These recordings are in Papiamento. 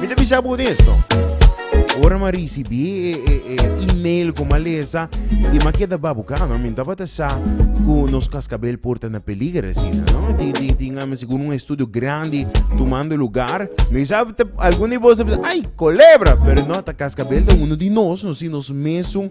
Mi ta bisa bo deso. Ora ma risibi e, e, e email ku ma lesa i ma keda babukano, mi tabata sa ku nos kaskabel por ta na peliger asina, no? Tin, tin, tin, ami segun un estudio grandi tumando lugar. Mi sa ta, algun di bos ta bisa, ay, kolebra! Pero no, ta kaskabel ta uno di nos, no si nos mesun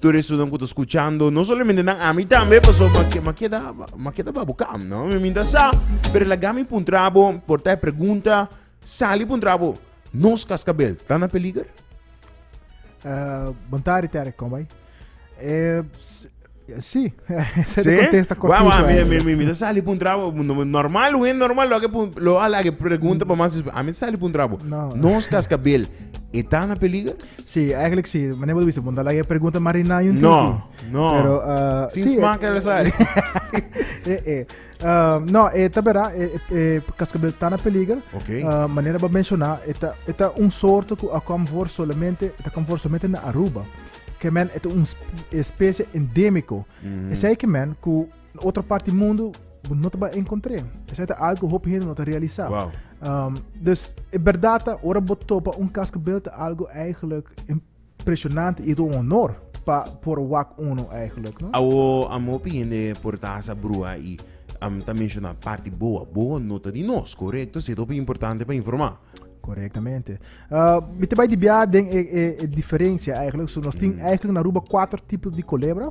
Tur esunnan ku ta skuchando, no solamente nan, ami tambe, paso ma ke- ma keda ma keda babu kam, no? Mi minta sa, pero laga mi puntra bo, por ta e pregunta, sali puntra bo, nos kaskabel ta na peliger? Eh, bontari Terek, kon bai? Eh, s- sí, esa es Sí? de contesta Wauw, cortito. wauw, mi, eh. mi, mi, mi ta sali puntra bo, no- normal, wen normal, lo ke pun, lo ala ke pregunta pa mas, ami ta sali puntra bo, No. nos kaskabel, e ta na peliger? Sí, eigenlijk sí. Meneer Bodo Wiese, Bondala je pregunta Marina yun No, tiki. no. Pero, uh, Sin sí, smaak eh, LSI. eh, eh. Uh, no, eh, ta vera, eh, eh, eh, cascabel está na peligro. Ok. Uh, manera ba menciona, eta, eta un soorte ku a kom voor solamente, eta kom voor solamente na Aruba. Que men, eta un sp- especie endémico. Mm. Zij que men, ku Na otro part di mundo bo no ta ba encontré. Esai ta algo hopi hende no ta realisá. Wow. Um, dus e berdata ora bo topa un kaskabel ta algo eigenlijk impressionante i do honor pa por wak uno eigenlijk, no? Awo am hopi hende por ta hasa brua i am ta menciona parti boa. Boa no ta di nos, correcto? Si hopi importante pa informa. Correctamente. Uh, mi te bai di bia den e, e, e diferencia eigenlijk. So nos tin eigenlijk na Aruba cuatro tipos di culebra.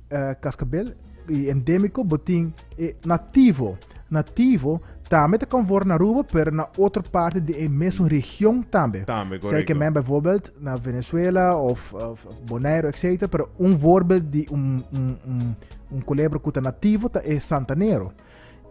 eh, cascabel y endémico botín eh, nativo. Nativo también te conforme na Aruba, pero na otra parte de een mesmo región también. También, correcto. Zij que men bijvoorbeeld na Venezuela of, of Bonaire, etc. Pero un voorbeeld de un, un, un, un culebra que nativo ta e Santanero.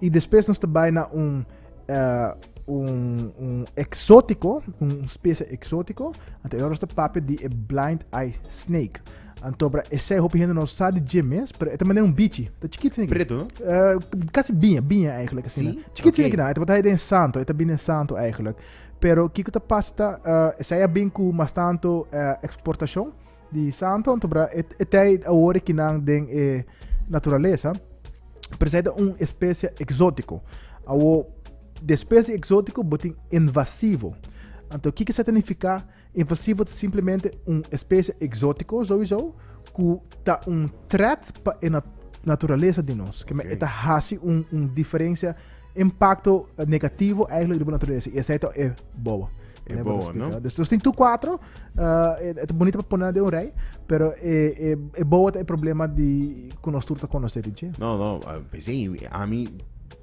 Y después nos te bai na un, uh, un, un exótico, un especie exótico, ante nos te papi di e blind eye snake. Antobra, ese hopi gente no sa di dje mes, pero ete mané un bichi, te chikit sin Preto, no? Uh, casi biña, biña eigenlijk. Sí? Okay. Chikit sin na, ete bota den santo, ete bin den santo eigenlijk. Pero kiko te pasta, uh, ese ya bin ku mas tanto uh, exportacion, di santo anto bra e, e tei awor ki nan den e naturaleza presenta un especie exótico awo de especie exótico botin invasivo anto kiki sa significa invasivo ta simplemente un especie exótico sowieso ku ta un threat pa e nat naturaleza di nos que okay. eta hasi un, un diferencia impacto negativo eigenlijk riba naturaleza. Y esa eto e bobo. E Lembra bobo, explica. no? Dus, dus tin tu cuatro, uh, e, e bonito pa poner de un rij, pero e, e, e bobo ta e problema di que nos tur ta conocer di je. No, no, ah, pues hey, a mí,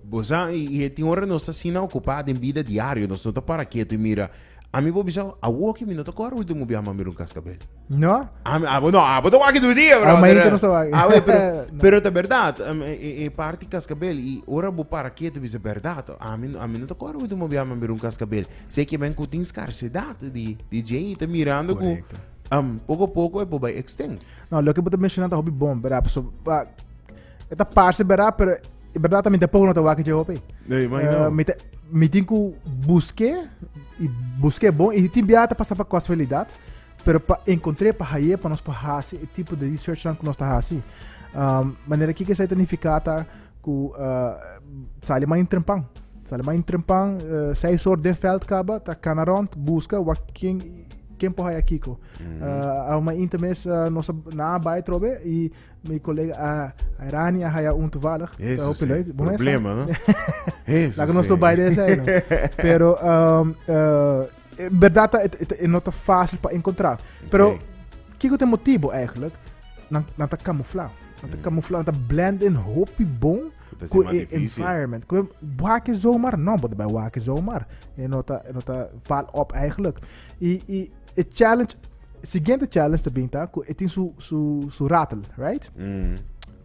bosa, y, y tin hora nos así na ocupado en vida diario, nos no te para quieto y mira, Ami por bisa, awor ki mi no ta kor ultimo bia mami run kaskabel. No? Ami, abo, no, abo ta wak du dia, bro. Amainta no sa wak. Abo, pero, no. pero ta berdad, um, e, e, e parti kaskabel, i ora bo para ketu bisa berdad, ami, ami no ta kor ultimo bia mami run kaskabel. Se ke men ku tin skarsedad di, di JI ta mirando ku, Correcto. um, poko poko e por bai extend. No, loke bo ta menshoná ta hopi bon, bra, pasobra E ta parse berdad, pero e berdad también te poco no te wak je hopi. Nee, maar nou. Eh, mi te- mi tin ku buske i buske bon i tin biata pasa pa casualidad, pero pa encontré pa haye pa nos pa hasi e tipo de research nan ku nos ta hasi. Um, manera kiko sa ta nifica ta ku uh, sali man in trempan. Sali man in trempan, uh, seis hor den veld kaba, ta kana rond, buska, wa ken ken po haya kiko. Uh, a man in temes uh, nos a- na bai trobe i Mi colega a Rani a haya un toevallig. Eso sí. Problema, no? Eso Laga nos bij deze zijn. Pero, um, uh, in verdad, het, het, het not fácil para encontrar. Pero, okay. kijk het motivo eigenlijk. Dan, dan te camouflage. Dan te mm. camouflage, dan te blend in hopi bon. Ku e environment. Ku waken zomaar. No, maar bij waken zomaar. En nota, nota val op eigenlijk. I, i, E challenge, siguiente challenge te binta ku e tin su su su rattle, right? Mm.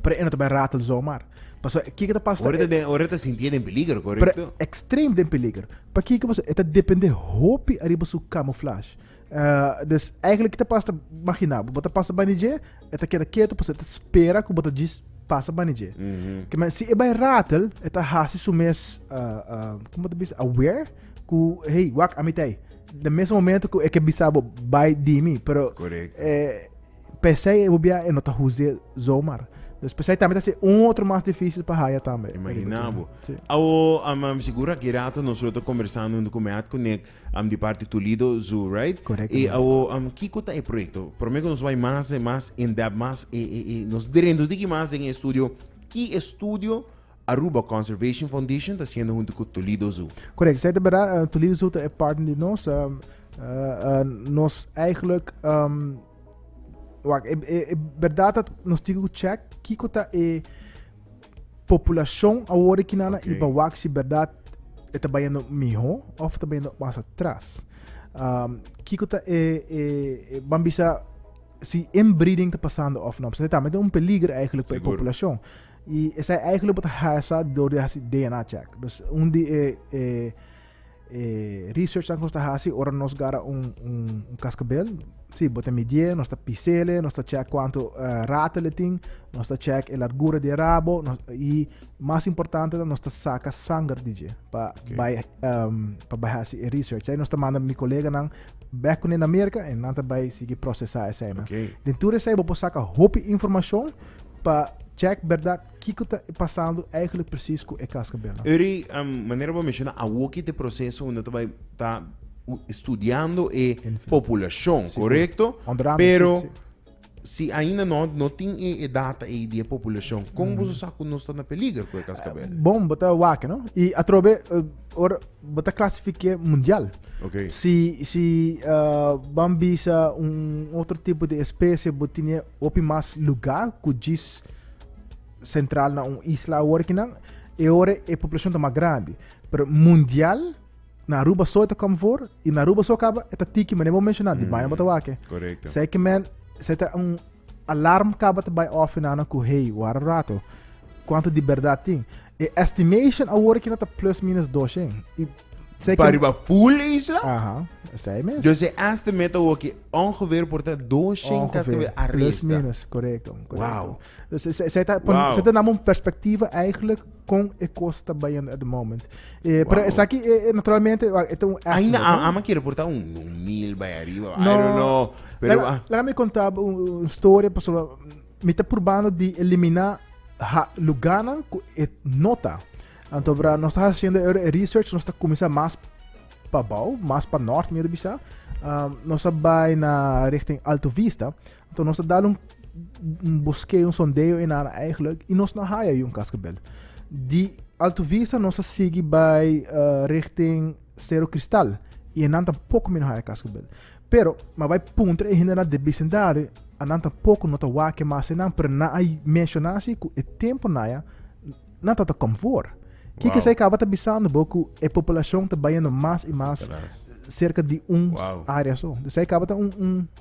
Pero e no te bai rattle zomaar. Paso kiko te pasa Ora te den, ora te sinti den peligro, Pero correcto? extreem den peligro. Pa kiko paso e ta depende hopi ariba su camouflage. Eh, dus eigenlijk kita pasa magina, bo ta pasa bani dje, e ta keda keto paso e ta spera ku bo ta djis pasa bani dje. Mhm. Ke men si e bai rattle, e ta hasi su mes eh, eh, como te bisa, aware ku hey, wak ami tei. Na mesmo momento cu e que bisabo bai dimi, pero Correcto. eh, pesai e bobia e no ta huze zomaar. Dus pesai tambe ta se un otro mas difícil pa haya tambe. e Imaginabo. Sí. Awo, am, am segura ki rato nosotros ta conversando junto con Meat Connect am, di parte Toledo Zoo, right? E Correctamente. awo, am, kiko ta e proyecto? Promer que nos bai mas, eh, mas in depth, mas, eh, eh, eh, nos drento tiki mas den e estudio. Ki estudio Aruba Conservation Foundation ta siendo hunto cu Toledo Zoo. Correct, esai ta berdad. Uh, Toledo Zoo ta e partner di nos. Uh, uh, uh, nos eigenlijk, um, wacht, e, e, e berdad dat nos tiene que check kiko ta e populacion ahora ki nana okay. i bewak si berdad e ta bayendo miho of ta bayendo mas atrás. Um, kiko ta e, e, e bambisa si inbreeding te pasando of no. Ze también un peligro eigenlijk para de población. Y esai eigenlijk bo ta hasa door di hasi DNA check. Dus un di e e e researchnan ku nos ta hasi ora nos gara un un kaskabel, si, bo ta midié, nos ta pisele, nos ta check kuantu ratel e tin, nos ta check e largura di e rabo, y mas importante nos ta saka sanger di dje pa bai pa bai hasi e research. Esei nos ta manda mi koleganan bek kuné na Merka, en nan ta bai sigui prosesá eseinan. Den tur esei bo por saka hopi informashon. Pa check berdad kiko ta pasando eigenlijk precies cu e cascabel. Eury, um, manera bo menciona, awoki te proceso unda ta bai ta studiando e pobulacion, si, correcto? Pero si, si. si ainda no, no tin e, e data ei di e pobulacion, con mm. boso sa cu nos ta na peliger cu e cascabel? Uh, bon, bo ta wake, no? Y atrobe, uh, or, bo ta clasifique mundial. Okay. Si, si uh, ban bisa un otro tipo de especie, bo tiene Hopi mas lugá ku djis sentral na un isla awor aki nan, e ora e poblashon ta mas grandi. Pero mundial, na Aruba so e ta kòm for, i na Aruba so kaba e ta tiki, manera bo menshoná, di baina bo ta wak e. Korekto. Sei ke men, sei ta un alarm kaba ta bai off nan ku hey, wara rato, kuantu di bèrdat tin? E estimation awor aquí ta plus minus doshe. Y sé que... Pariba full isla? Ajá, sei mes. Dus e estimate awor aquí ongeveer por ta doshe kas que arresta. Plus minus, correcto. correcto. Wow. Dus zij ta, wow. zij ta nam un perspectiva eigenlijk con e costa bayende at the moment. Eh, wow. Pero esaki eh, eh, naturalmente het un estimate. Ainda no? ama quiere por ta un, un mil bij arriba. No, I don't know. Pero, laat me contar een story, pas Mi ta purbando di elimina ha luganan ku e no ta. Anto bra nos ta haciendo e e research nos ta kumisa mas pa bou, mas pa nort mi ta bisa. Um, nos ta bai na richting Alto Vista. Anto nos ta dal un un boskeo, un sondeo en aan eigenlijk i nos no haya yon kaskabel. Di Alto Vista nos ta sigi bai uh, richting Sero Kristal, i e nan tampoco mi no haya cas cu bel. Pero, ma bai puntra e hende nan de bicendario, a nan tampoco no ta wake mas e nan, pero nan a menciona así cu e tempo naya nan ta ta com voor. Kiko Wow. esei caba ta bisando bo cu e poblacion ta bayendo mas y mas Sinterklaas. cerca di un Wow. area so. Dus esei caba ta un, un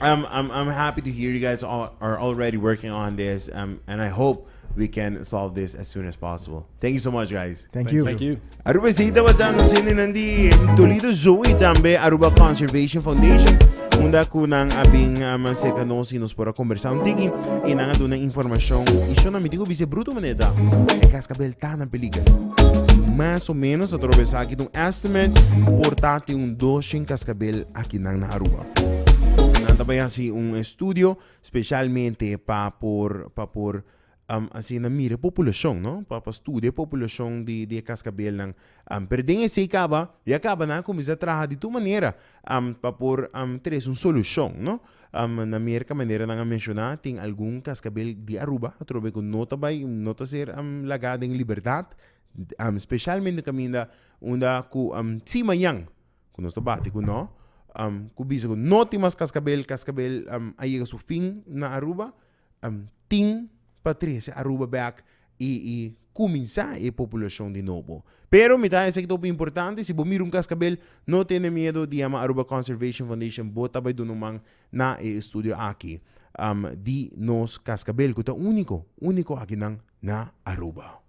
I'm, I'm, I'm happy to hear you guys all, are already working on this, um, and I hope we can solve this as soon as possible. Thank you so much, guys. Thank you. Thank you. Aruba Zeta Watan, nos in in the Toledo Zoo y también Aruba Conservation Foundation. Unda ku nan abin um, cerca nos y nos pora conversar un tiki y nan aduna información. Y yo no me digo bise bruto maneta. E cascabel tan en peligro. Más o menos atravesar aquí un estimate portate un 200 cascabel aki nan na Aruba. Nan ta bai hasi un estudio specialmente pa por pa por asina mira e populacion no pa pa studia e populacion di di e cascabelnan pero den esey caba ya caba nan a cuminsa traha di tur manera pa por tres un solucion no na Merca manera nan a menciona tin algun cascabel di Aruba atrobe cu no ta bai no ta ser laga den libertad specialmente caminda unda cu si mañan ku nos ta bati ku no ku bisa ku no tin mas kaskabel kaskabel a yega su fin na aruba tin pa trese aruba bek i i kuminsá e populashon di nobo pero mi ta esei ta hopi importante si bo mira un kaskabel no tene miedo di yama aruba conservation foundation bo ta bai duna un man na e estudio aki di nos kaskabel ku ta úniko úniko akinan na aruba.